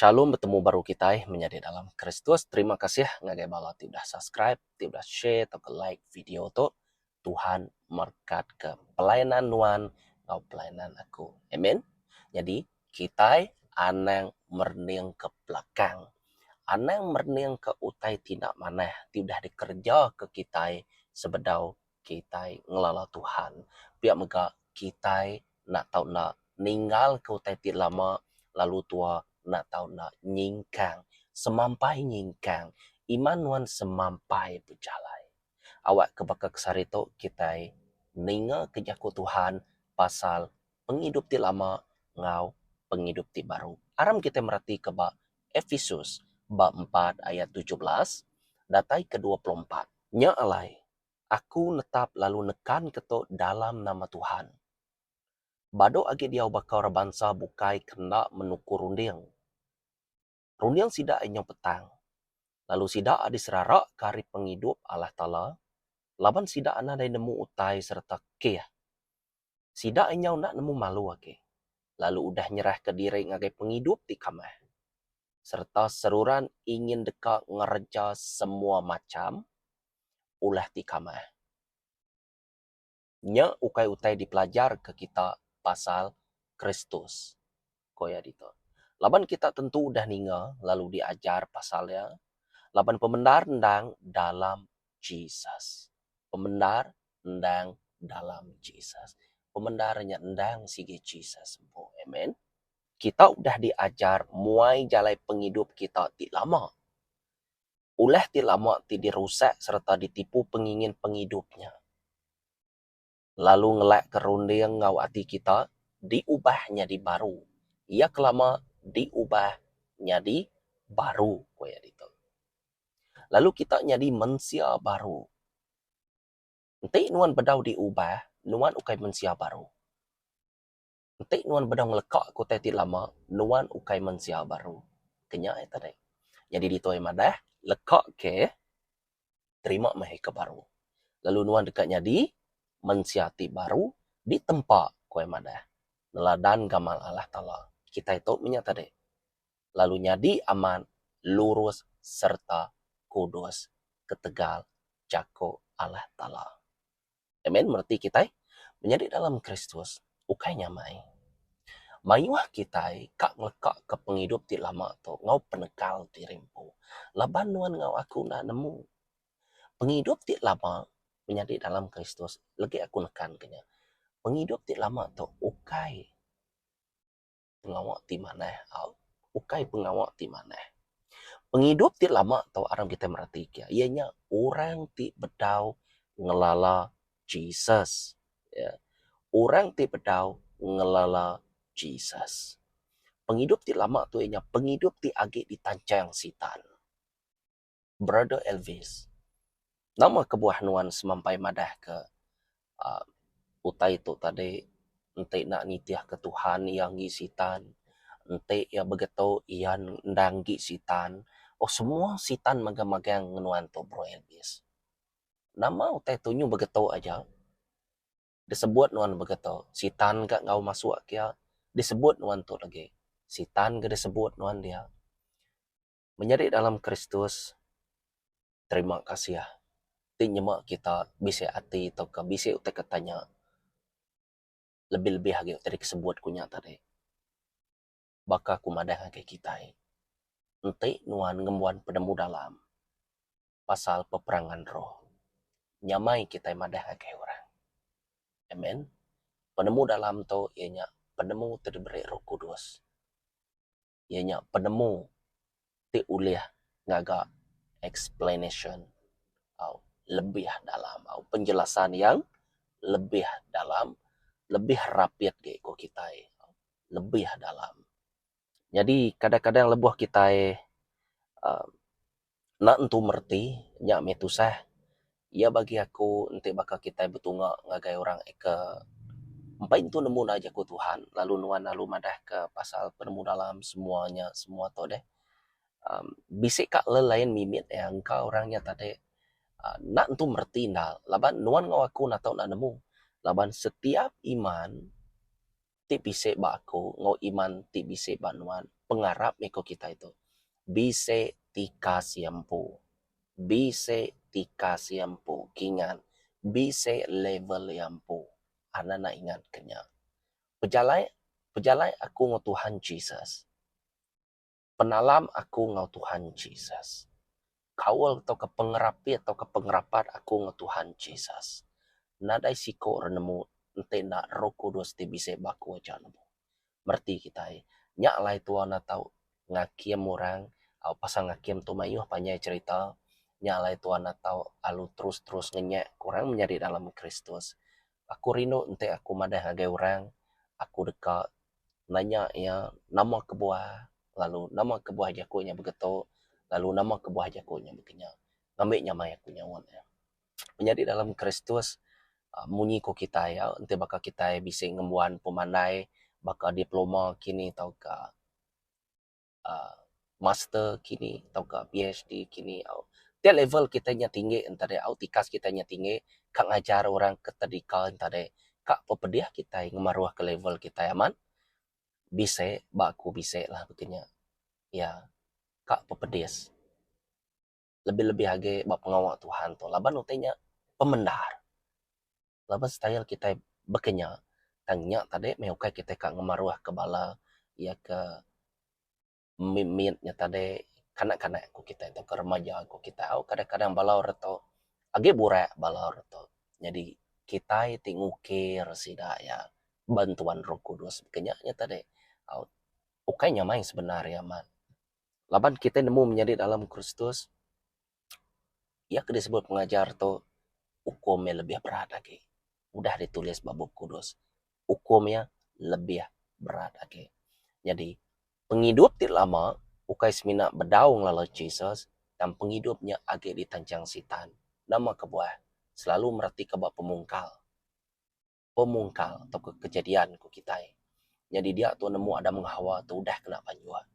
Shalom betemu baru kitai menyadi dalam Kristus terima kasih ngagai bala ti udah subscribe ti udah share tauka like video tu Tuhan merkatka pelayanan nuan enggau pelayanan aku amen nyadi kitai anang merening ke belakang anang merening ke utai ti enda manah ti udah dikerja ke kitai sebedau kitai ngelala Tuhan. Pia mega kitai enda tau enda ninggalka utai ti lama lalu tuwa enda tau enda nyingkang semampai nyingkang iman nuan semampai bejalai. Awak ke baka ke sehari tu kitai ninga ke jaku Tuhan pasal pengidup ti lama enggau pengidup ti baru. Aram kitai mereti ke ba Episus bab empat ayat tujuh belas datai ke dua puluh empat. Nya alai Aku netap lalu nekan keto dalam nama Tuhan. Bado agi diau baka orang bansa bukai ke enda menuku runding. Runding sida inyo petang, lalu sida diseraraka ari pengidup Allah Taala laban sida nadai nemu utai sereta keh. Sida enggau enda nemu malu agi lalu udah nyerahka diri ngagai pengidup ti kamah sereta seruran ingin deka ngereja semua macham ulah ti kamah. Nya ukai utai dipelajarka kita pasal Kristus. ko iya ditu. Laban kita tentu udah ninga lalu diajar pasal iya, laban pemendar endang dalam Jesus. Pemendar endang dalam Jesus. Pemendar nya endang sigi Jesus empu. Amen. Kita udah diajar muai jalai pengidup kita ti lama. Ulah ti lama ti dirusak sereta ditipu pengingin pengidup nya. lalu ngelakka runding enggau ati kita diubah nyadi baru. Iya kelama diubah nyadi baru, ku iya ditu. Lalu kita nyadi mensia baru. Enti nuan bedau diubah, nuan ukai mensia baru. Enti nuan bedau ngeleka ke utai ti lama, nuan ukai mensia baru. Kenya iya tadi. Nyadi ditu iya madah, leka ke terima meh iya ke baru. Lalu nuan deka nyadi mensia ti baru ditempa, ku iya madah, neladan gamal Allah Taala. Kitai tu meh iya tadi. Lalu nyadi amat lurus sereta kudus ketegal jaku Allah Taala. Amen. Mereti kitai menyadi dalam Kristus ukai nyamai. Mayuh kitai ka ngelekaka pengidup ti lama tu enggau penekal ti rimpu. Laban nuan enggau aku enda nemu pengidup ti lama menyadi dalam Kristus, legi aku nekanka nya, pengidup ti lama tu ukai. pengawa ti manah au ukai pengawa ti manah. Pengidup ti lama tu aram kitai mereti ke iya nya orang ti bedau ngelala Jesus uhh orang ti bedau ngelala Jesus. Pengidup ti lama tu iya nya pengidup ti agi ditancheng Sitan. Brother Elvis, nama kebuah nuan semampai madahka utai tu tadi enti nak nitihka Tuhan iya enggi Sitan, enti iya begetu iya enda enggi Sitan. Oh semua Sitan magang-magang ngen nuan tu Bro Elvis. Nama utai tu nyuh begetu aja. Disebut nuan begetu, Sitan ka enggau masuk kiya disebut nuan tu legi. Sitan ke disebut nuan dia. Menyadi dalam Kristus, terima kasih ti nyema kita bisi ati tauka bisi utai ke tanya lebih-lebih agi utai dikesebut ku nya tadi. Baka ku madah ngagai kitai, enti nuan ngembuan penemu dalam pasal peperangan roh, nyamai kitai madah ngagai orang. Amen. Penemu dalam tu iya nya penemu ti diberi Roh Kudus. iya nya penemu ti ulih ngaga explanation au lebih dalam au penjelasan yang lebih dalam lebih rapit agi ku kitai lebih dalam. Nyadi kadang-kadang lebuh kitai aaa Enda entu mereti, nya meh tusah. Iya bagi aku enti baka kitai betunga ngagai orang ke empai entu nemu undang Jaku Tuhan lalu nuan lalu madahka pasal penemu dalam semua nya semua tu deh uhh bisi ka lelain mimit iya engka orang nya tadi uhh enda entu mereti enda laban nuan enggau aku enda tau enda nemu laban setiap iman ti bisi ba aku enggau iman ti bisi ba nuan pengarap mih ku kitai tu bisi ti kasih empu bisi ti kasih empu kingan bisi level iya empu an anak ingat ke nya pejalai pejalai aku enggau Tuhan Jesus. Penalam aku enggau Tuhan Jesus. Kaul tauka pengerapi tauka pengerapat aku enggau Tuhan Jesus. Nadai siko re nemu enti enda Roh Kudus ti bisi ba aku aja nemu. Mereti kitai, nya alai tua enda tau ngakim orang au pasal ngakim tu mayuh panjai cherita. Nya alai tua enda tau alu terus-terus ngenyek ke orang menyadi dalam Kristus. Aku rindu enti aku madah ngagai orang, aku deka nanya iya nama kebuah lalu nama kebuah jaku nya begetu lalu nama kebuah jaku nya bekenya ngambi nyamai aku nyaut iya. Menyadi dalam Kristus aaa munyi ku kitai iya enti baka kitai bisi ngembuan pemandai baka diploma kini tauka. master kini tauka PHD kini au dak level kitai nya tinggi enta deh au tikas kitai nya tinggi ka ngajar orang ka tadika enta deh ka pepedih kitai ngemaruh ka level kitai amat bisi ba aku bisi lah baka nya ya ka pepedis. lebih-lebih agi ba pengawa Tuhan tu laban utai nya pemendar laban style kitai baka nya tang nya tadi meh ukai kitai ka ngemaruh ka bala iya ke min mit nya tadi kanak-kanak ku kitai tauka remaja ku kitai au kadang-kadang bala ore tu agi burak bala ore tu nyadi kitai ti ngukir sida iya bantuan Roh Kudus ke nya nya tadi au ukai nya main sebenar iya amat. laban kitai nemu menyadi dalam Kristus, iya ke disebut pengajar tu ukum iya lebih berat agi. Udah ditulis ba Bup Kudus, ukum iya lebih berat agi. Nyadi, pengidup ti lama ukai semina bedau ngelala Jesus, tang pengidup nya agi ditanchang Sitan. Nama kebuah? Selalu meratika ba pemungkal. pemungkal tauka kejadian ku kitai. Nyadi dia tau nemu Adam enggau Hawa tu udah kena banjok.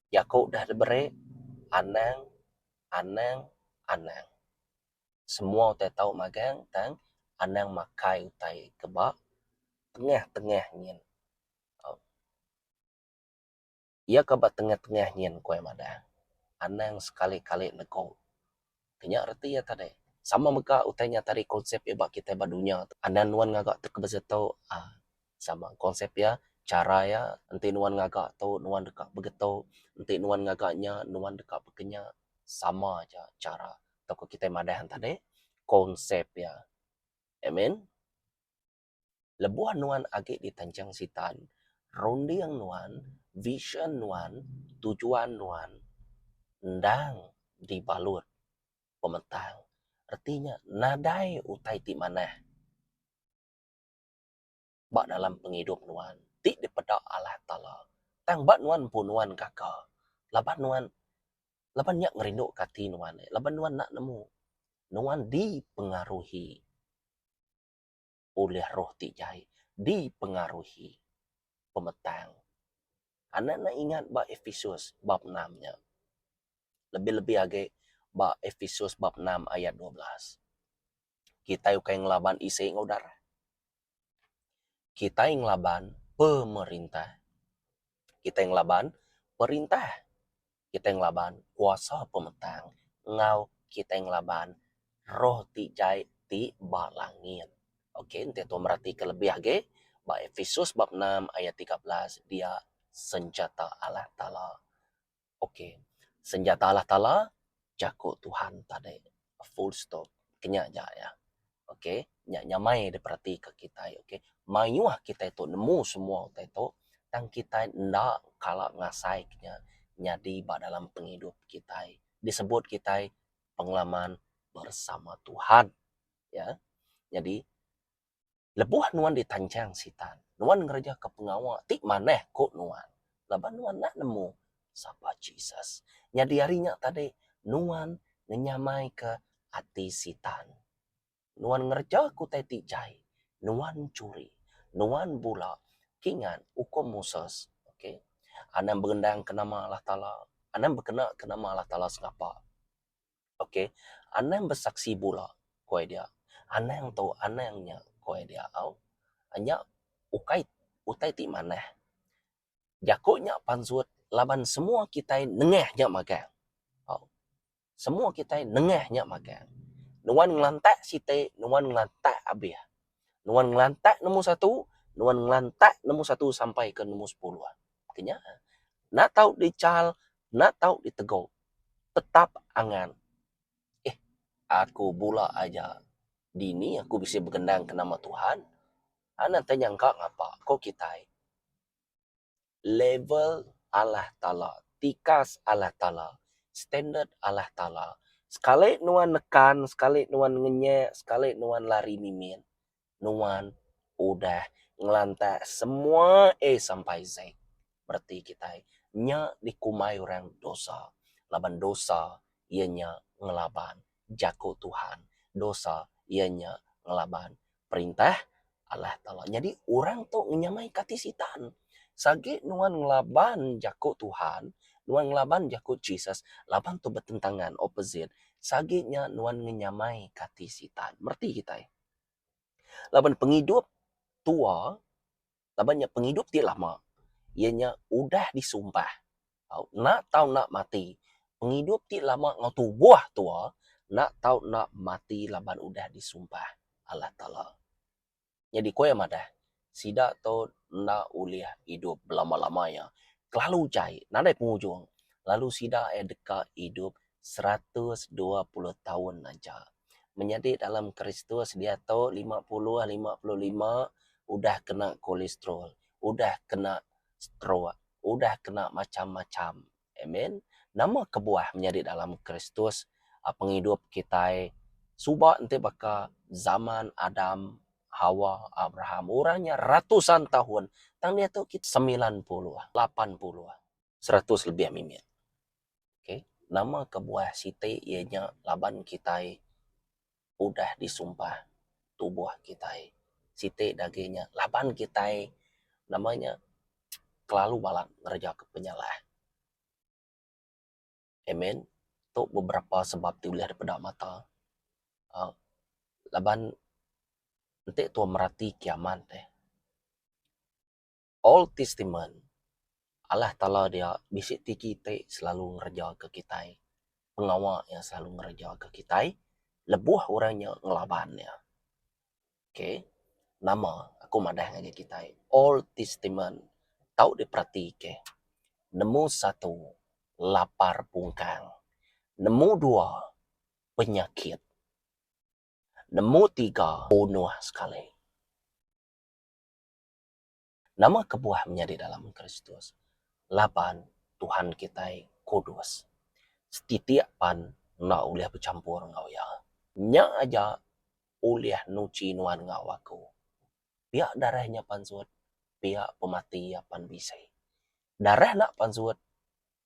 Jaku udah diberik, anang, anang, anang. Semua utai tau magang tang anang makai utai ke ba tengah-tengah nyin. Au. Iya ka ba tengah-tengah nyin ku iya madah. Anang sekali-kali negu. Ti nya reti iya tadi. Sama mega utai nya tadi konsep iya ba kitai ba dunya tu. Anang nuan ngaga tu ke beza tu uhh sama konsep iya, chara iya. Enti nuan ngaga tu nuan deka begetu, enti nuan ngaga nya nuan deka bekenya. Sama aja chara tauka kitai madah tadi konsep iya. Amen. Lebuh nuan agi di tanjung sitan, runding nuan, vision nuan, tujuan nuan endang dibalut pemetang reti nya nadai utai ti manah ba dalam pengidup nuan ti dipeda Allah Taala. Tang ba nuan empu nuan gaga laban nuan laban nya ngerinduka ati nuan laban nuan enda nemu nuan dipengaruhi. ulih roh ti jai dipengaruhi pemetang. Anak enda ingat ba Episus bab enam nya. Lebih-lebih agi ba Episus bab enam ayat dua belas. Kitai ukai ngelaban isi enggau darah. Kitai ngelaban pemerintah. Kitai ngelaban perintah. kitai ngelaban kuasa pemetang enggau kitai ngelaban roh ti jai ti ba langit. Ok enti tau meratika lebih agi ba Episus bab enam ayat tiga belas dia senjata Allah Taala. Ok senjata Allah Taala jaku Tuhan tadi. full stop kenya aja ya ok nya nyamai diperatika kitai ok mayuh kitai tu nemu semua utai tu tang kitai enda kala ngasai kinya nyadi ba dalam pengidup kitai disebut kitai pengalaman bersama tuhan ya nyadi Lebuh nuan ditanchang Sitan, nuan ngerejaka pengawa ti manah ku nuan laban nuan enda nemu sapa Jesus. Nyadi ari nya tadi, nuan ngenyamaika ati Sitan. Nuan ngereja ke utai ti jai. Nuan churi. Nuan bula. Kingat ukum Moses. Okay. Anang berendangka nama Allah Taala. Anang bekenaka nama Allah Taala sengapa. ok anang besaksi bula ku iya dia anang tu anang nya ku iya dia tau nya ukai utai ti manah jaku nya pansut laban semua kitai nengah nya magang tau semua kitai nengah nya magang nuan ngelantak siti nuan ngelantak abih Nuan ngelantak nombor satu, nuan ngelantak nombor satu sampai ke nombor sepuluh. Kenya. Enda tau dichal, enda tau ditegok. Tetap angan. Eh, aku bula aja. Dini aku bisi begendang ke nama Tuhan? Anak te nyangka ngapa ko kitai. level Allah Taala, tikas Allah Taala, standard Allah Taala. Sekali nuan nekan, sekali nuan ngenyek, sekali nuan lari mimin, nuan udah ngelantak semua A sampai Z. Bereti kitai nya dikumbai orang dosa. Laban dosa iya nya ngelaban jaku Tuhan. Dosa iya nya ngelaban Perintah Allah Taala. Nyadi orang tu ngenyamai kati Sitan. Seh agi nuan ngelaban jaku Tuhan, nuan ngelaban jaku Jesus, laban tu betentangan, opposite, seh agi nya nuan ngenyamai kati Sitan. Mereti kitai. Laban pengidup tua laban nya pengidup ti lama iya nya udah disumpah enda tau enda mati pengidup ti lama enggau tubuh tua enda tau enda mati laban udah disumpah Allah taala nyadi ku iya madah sida tu enda ulih idup belama-lama iya kelalu jai nadai pengujung lalu sida iya deka idup seratus dua puluh taun aja menyadi dalam kristus diatu lima puluh lima puluh lima udah kena kolestrol udah kena stroke udah kena macham macham amen nama kebuah menyadi dalam kristus pengidup kitai suba enti baka zaman adam hawa abraham orang nya ratusan taun tang diatu kita semilan puluh lapan puluh seratus lebih mimit. Okay, nama kebuah siti iya nya laban kitai udah disumpah tubuh kitai siti dagi nya laban kitai nama nya kelalu balat ngereja ka penyalah. Amen. Tu beberapa sebab ti ulih dep peda mata uhh laban enti tuan merati kiamat deh. Old Testament, Allah Taala dia bisi tiki ti selalu ngerejaka kitai, pengawa Iya selalu ngerejaka kitai lebuh orang nya ngelaban Iya. Okay, nama aku madah ngagai kitai Old Testament tau diperatika. Nemu satu, lapar pungkang. Nemu dua, penyakit. Nemu tiga, bunuh sekali. Nama kebuah menyadi dalam Kristus? Laban Tuhan kitai kudus, setitik pan enda ulih bechampur enggau Iya. Nya aja ulih nuchi nuan enggau aku, pia darah Nya pansut, pia pemati Iya pan bisi. Darah enda pansut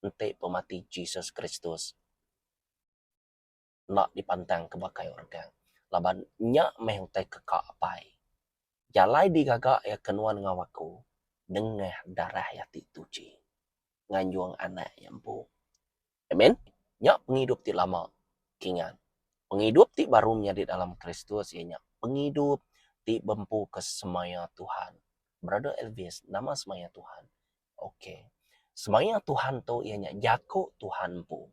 enti pemati Jesus Kristus. enda dipantang ke baka orang. Laban nya meh utai ke ka apai. Jalai digaga iya ke nuan enggau aku nengah darah iya ti tuchi nganjung anak iya empu. Amen. Nya pengidup ti lama kingan. Pengidup ti baru menyadi dalam Kristus iya nya pengidup ti bempuka semaya Tuhan. Brother Elvis, nama semaya Tuhan? Ok. Semaya Tuhan tu iya nya jaku Tuhan empu.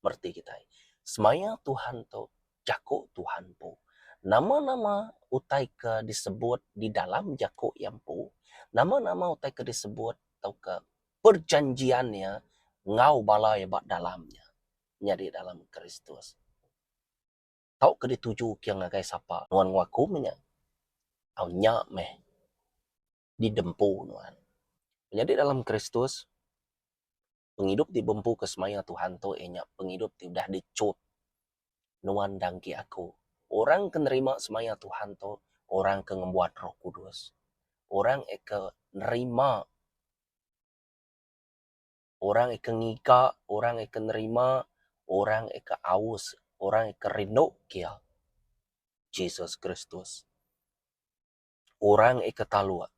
mereti kitai. Semaya Tuhan tu jaku Tuhan empu. Nama-nama utai ke disebut di dalam jaku iya empu, nama-nama utai ke disebut tauka perjanjian iya enggau bala iya ba dalam nya nyadi dalam Kristus tauka ditujuka ngagai sapa nuan enggau aku meh nya. Au nya meh didempu nuan. Nyadi dalam Kristus. Pengidup ti bempu ke semaya Tuhan tu iya nya pengidup ti udah dichup nuan enda enggi aku. Orang ke nerima semaya Tuhan tu orang ke ngembuan Roh Kudus. Orang iya ke nerima orang iya ke ngiga orang iya ke nerima orang iya ke aus orang iya ke rindu ke iya, Jesus Kristus. Orang ika taluk,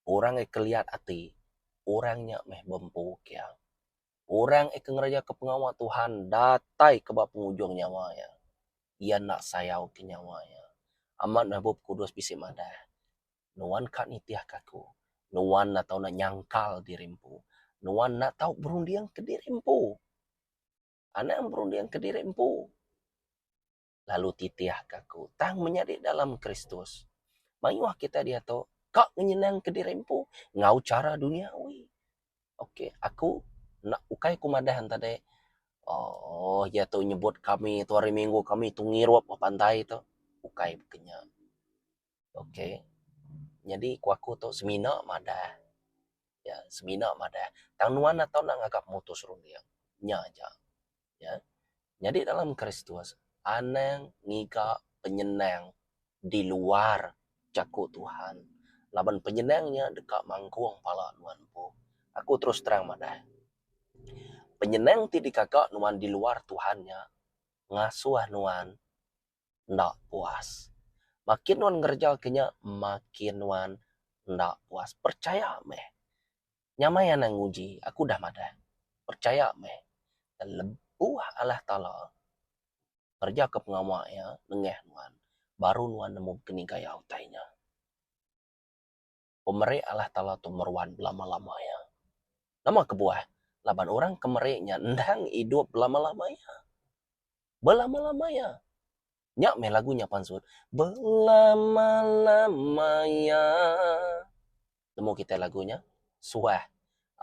orang ika liat ati, orang nya meh bempu kia. Orang ika ngerejaka pengawa Tuhan datai ke ba pengujung nyawa iya, iya enda sayauka nyawa iya. Amat meh Bup Kudus bisi madah, Nuan ka nitihka aku, nuan enda tau nyangkal diri empu, nuan enda tau berundingka diri empu. Anang berundingka diri empu. lalu titihka aku. Tang menyadi dalam Kristus, mayuh kitai diatu ka nyenangka diri empu enggau chara duniawi. Ok, aku enda ukai ku madah enti deh uhh iya tu nyebut kami tu hari minggu kami tu ngirup ba pantai tu. Ukai ku nya. ok nyadi ku aku tu semina madah ya semina madah tang nuan atu enda ngaga mutus runding nya aja ya nyadi dalam kristus anang ngiga penyenang di luar jaku tuhan laban penyenang nya deka manggung pala nuan empu aku terus terang madah penyenang ti digaga nuan di luar tuhan nya ngasuh nuan enda puas. Makin nuan ngereja ke nya makin nuan enda puas. Percaya meh. Nyamai anang nguji aku udah madah. Percaya meh. Lebuh Allah Taala ngereja ke pengawa iya nengah nuan baru nuan nemu ke ni gaya utai nya. pemeri Allah Taala tu meruan belama-lama iya. Nama kebuah? Laban orang ke meri nya endang idup belama-lama iya. Belama-lama iya. Nya meh lagu nya pansut. Belama-lama iya. Nemu kitai lagu nya? Suah.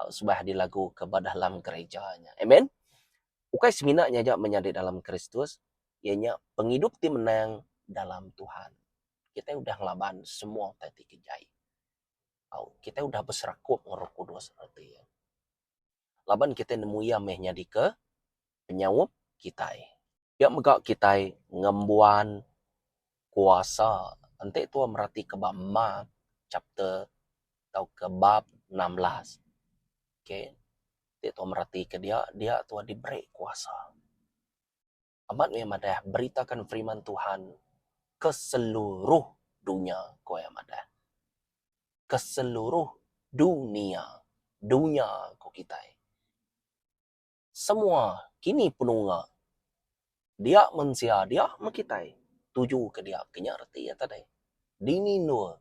Suah dilaguka ba dalam gerija nya. Amen. Ukai semina nya aja menyadi dalam Kristus, iya nya pengidup ti menang dalam Tuhan. kitai udah ngelaban semua utai ti kejai. Au, kitai udah beserakup enggau Roh Kudus reti iya. Laban kitai nemu iya meh nyadika penyaup kitai. Iya mega kitai ngembuan kuasa. Enti tuan meratika ba Mark chapter tauka bab enam belas. Okay. Enti tuan meratika dia, dia tuan diberi kuasa. Amat meh madah beritakan firiman Tuhan ke seluruh dunya, ku iya madah. Ke seluruh dunia, dunya ku kitai. Semua kini penunga dia mensia dia meh kitai. Tuju ke dia ke nya reti iya tadi. Dini endur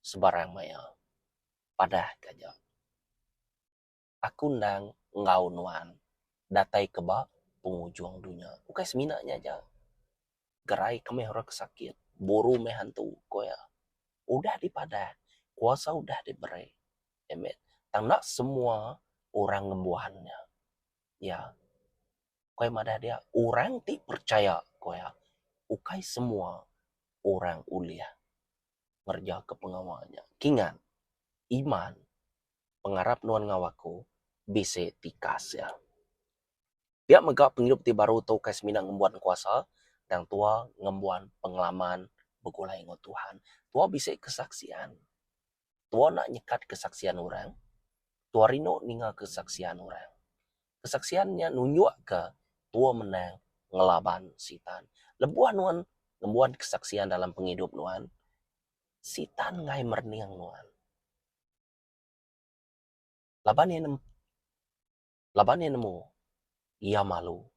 sebarang maya. Padahka ja. Aku endang enggau nuan datai ke ba pengujung dunya. Ukai semina nya aja, gerai ke meh orang ke sakit, buru meh antu, ku iya. Udah dipadah, kuasa udah diberi. Amen. Tang enda semua orang ngembuan nya. Ya. Ukai madah dia, orang ti percaya, ku iya, ukai semua orang ulih ngerejaka pengawa nya. Kingat, iman pengarap nuan enggau aku bisi tikas iya. Pia mega pengidup ti baru tu ukai semina ngembuan kuasa tang tuwa ngembuan pengalaman begulai enggau Tuhan. Tuwa bisi kesaksian. Tuwa enda nyekat kesaksian orang. Tuwa rindu ninga kesaksian orang. Kesaksian nya nunjukka tuwa menang ngelaban Sitan. Lebuh nuan ngembuan kesaksian dalam pengidup nuan, Sitan enggai merening nuan. Laban iya nemu laban iya nemu iya malu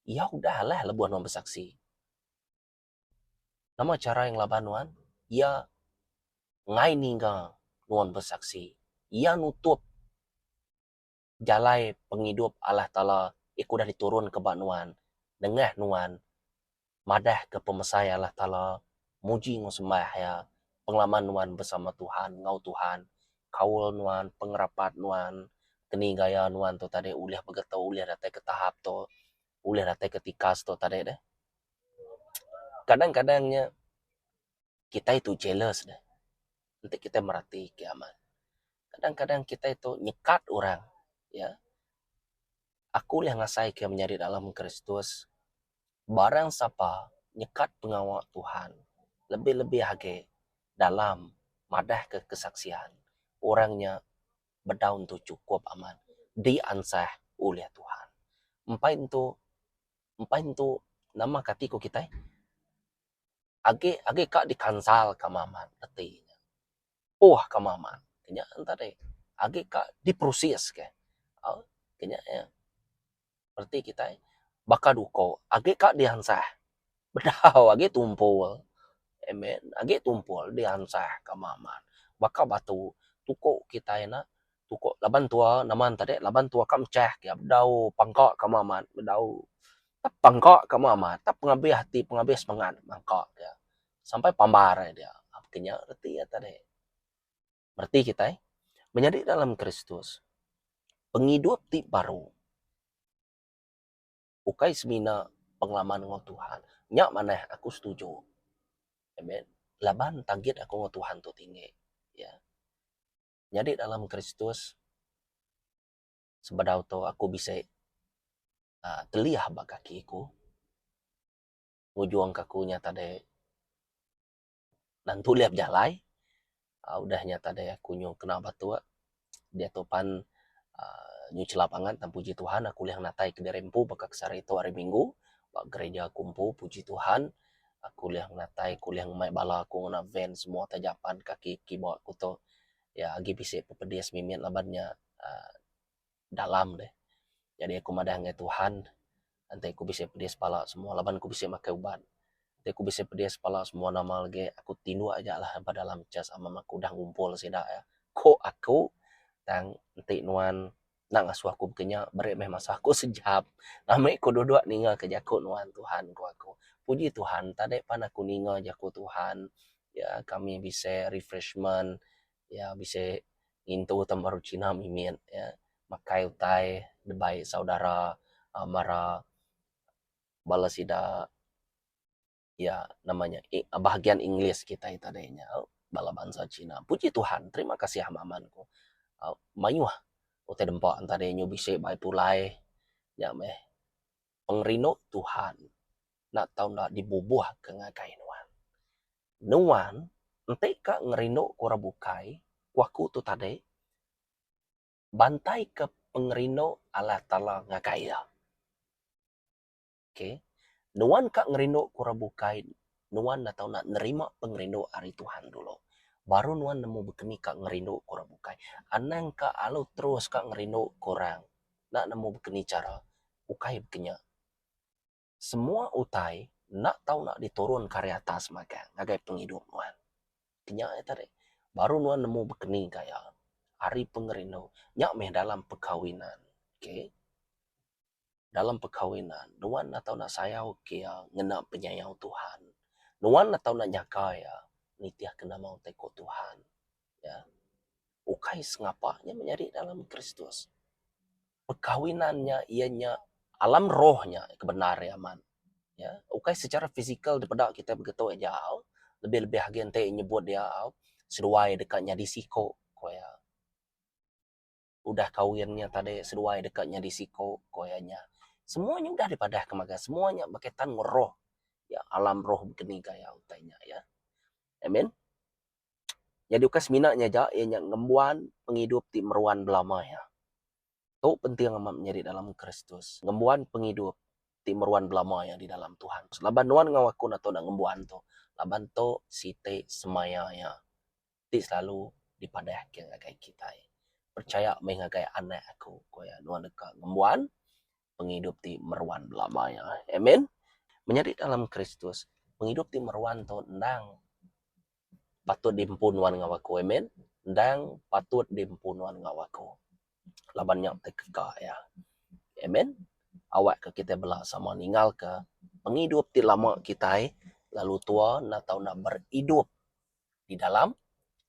iya udah alah lebuh nuan besaksi. Nama chara iya ngelaban nuan? Iya ngai ninga nuan besaksi. Iya nutup. jalai pengidup Allah Taala ke udah diturunka ba nuan nengah nuan madahka pemesai Allah Taala, muji enggau sembah Iya, pengelama nuan besama Tuhan enggau Tuhan, kaul nuan, pengerapat nuan, keni gaya nuan tu tadi ulih begetu, ulih datai ke tahap tu, ulih datai ke tikas tu tadi deh. Kadang-kadang nya kitai tu jealous deh. Enti kitai meratika amat. kadang-kadang kitai tu nyekat orang iya aku ulih ngasai ke menyadi dalam kristus barang sapa nyekat pengawa Tuhan lebih-lebih agi dalam madah ke kesaksian orang nya bedau tu cukup amat diansah ulih Tuhan empai tu empai tu nama ka ati ku kitai agi agi ka dikansal ka amat reti. poh ka maman nya tadi agi ka diproses ka au ke nya ia reti kitai baka du uko agi ka diansah bedau agi tumpul amen agi tumpul diansah ka maman baka batu tuko kitai na tuko laban tua naman tadi laban tua ka mechah ka bedau pangka ka maman bedau tap pangka ka maman tap pengabih ati pengabih semangat mangka ka sampai pambar aja dia. Ke nya reti iya tadi. Reti kitai menyadi dalam Kristus pengidup ti baru ukai semina pengalaman enggau Tuhan. Nya manah aku setuju. Amen. Laban target aku enggau Tuhan tu tinggi. Ya. Nyadi dalam Kristus sebedau tu aku bisi aaa teliah ba kaki ku. ngujungka aku nya tadi nentu lih bejalai aaa udah nya tadi aku nyuh kena batok diatu pan aaa nyuh chelap angat tang puji Tuhan aku lih natai kediri empu baka ke sehari tu hari minggu ba gereja aku empu puji Tuhan aku lih natai aku lih ngumbai bala aku ngena van semua taja pan kaki kiba aku tu iya agi bisi pepedis mimit laban nya aaa dalam ne jadi aku madah ngai Tuhan enti aku bisi pedis pala semua laban aku bisi makai ubat enti aku bisi pedis pala semua nama lagi aku ti indu aja lah ba dalam church ama meh aku udah ngumpul sida ya ko aku tang enti nuan enda ngasuh aku bekenya beri meh masa ku sejap ami ku dudok ninga ke jaku nuan Tuhan ku aku puji Tuhan tadi pan aku ninga jaku Tuhan ya kami bisi refreshment iya bisi ngintu ta baru china mimit iya makai utai debai saudara a mara bala sida iya nama nya bahagian english kitai tadi nya bala bansa china. Puji Tuhan terima kasih amat amat ku mayuh utai dempa tadi nya bisi bai pulai nya meh. pengerindu Tuhan enda tau enda dibubuhka ngagai nuan. Nuan enti ka ngerinduka orang bukai, ku aku tu tadi, bantaika pengerindu Allah Taala ngagai iya. Okay. Nuan ka ngerinduka orang bukai, nuan enda tau enda nerima pengerindu ari Tuhan dulu, baru nuan nemu bekeni ka ngerinduka orang bukai. Anang ka alu terus ka ngerinduka orang, enda nemu bekeni chara. ukai bekenya. Semua utai enda tau nak diturunka ari atas magang ngagai pengidup nuan. Kenya nya tadi baru nuan nemu bekeni ka iya ari pengerindu nya meh dalam pekawinan. Okay. Dalam pekawinan nuan enda tau nak sayau ka iya ngena penyayau Tuhan. Nuan enda tau nak nyaga iya nitihka nama utai ku Tuhan. Ukai sengapa nya menyadi dalam Kristus. perkahwinan nya iya nya alam roh nya ke bendar iya amat iya ukai secara fizikal dipeda kita begitu aja lebih lebih agi enti nyebut iya seduai deka nyadi siko ku iya udah kahwin nya tadi seduai deka nyadi siko ku iya nya semua nya udah dipadah ke maga semua nya berkaitan enggau roh iya alam roh begini gaya utai nya iya amin. Nyadi ukai semina nya aja iya nya ngembuan pengidup ti meruan belama iya. Tu penting amat menya di dalam Kristus, ngembuan pengidup ti meruan belama iya di dalam Tuhan. Laban nuan enggau aku enda tau enda ngembuan tu laban tu siti semaya iya ti selalu dipadahka ngagai kitai. Pechaya meh ngagai anak aku, ku iya. Nuan deka ngembuan pengidup ti meruan belama iya. Amen. Menyadi dalam Kristus, pengidup ti meruan tu endang patut diempu nuan enggau aku. Amen. Endang patut diempu nuan enggau aku. Laban nya ti keka iya. Amen. Awakka kitai bela sama ninggalka pengidup ti lama kitai lalu tua enda tau nak beridup di dalam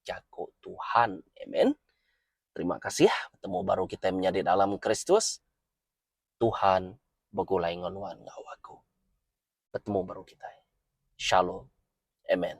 jaku Tuhan. Amen. Terima kasih betemu baru kitai menyadi dalam Kristus. Tuhan begulai enggau nuan enggau aku. Betemu baru kitai. Shalom. Amen.